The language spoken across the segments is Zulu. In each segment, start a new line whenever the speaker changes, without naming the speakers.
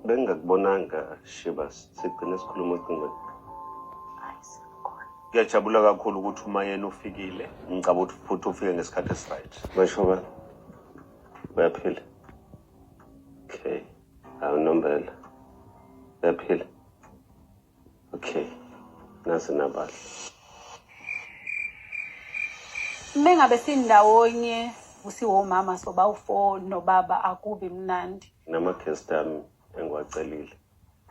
Bengingakubonanga Shiba, sigcine sikhuluma ocingweni. Ngiyajabula kakhulu ukuthi umayeni ufikile. Ngicabanga ukuthi futhi ufike ngesikhathi esiright. Basho ba. Bayaphila. Okay. Awunombela. Bayaphila. Okay. Nasi nabahle.
Mengabe sindawonye usiwomama soba ufo nobaba akubi mnandi. Nama guest ami
engiwacelile.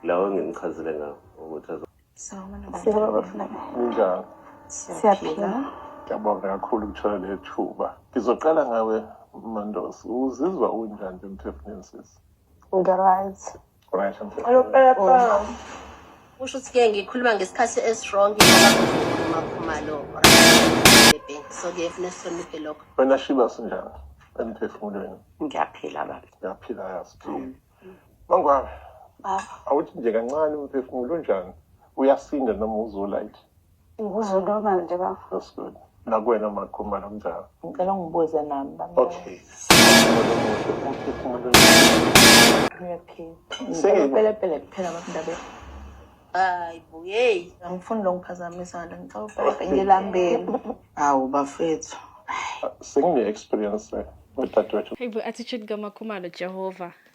Lawo engimchazile ngawo ukuthi azo. Siyabona bafuna.
Ninjalo. Siyaphila.
Ngiyabonga
kakhulu ukuthola lethuba. Ngizoqala ngawe Mandosi. Uzizwa unjani emphefumulweni sisi? Ngiright. Oh.
kusho ukuthi ke ngikhuluma ngesikhathi esiwrong makhumalo so kuyefuna sihloniphe lokho wena shiba
sinjani emphefumulweni ngiyaphila
baba ngiyaphila yazi
mm. mangwabe awuthi nje kancane umphefumulo unjani uyasinda noma uzolayithi Ngikuzoloma
nje bafo.
Nakuwena makhumba nomnjalo. Ngicela ungibuze
nami baba. Okay.
Uyaphila
kuphela babindaba. Hayi
bo, hey. Angifuni lo ngiphazamisa
nje ngicela ubheke ngilambeni. Hawu bafethu. Sengine
experience le. Udadewethu. Hey bo, attitude
kaMakhumalo Jehova.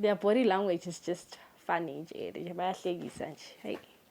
their body language is just funny nje nje bayahlekisa nje hayi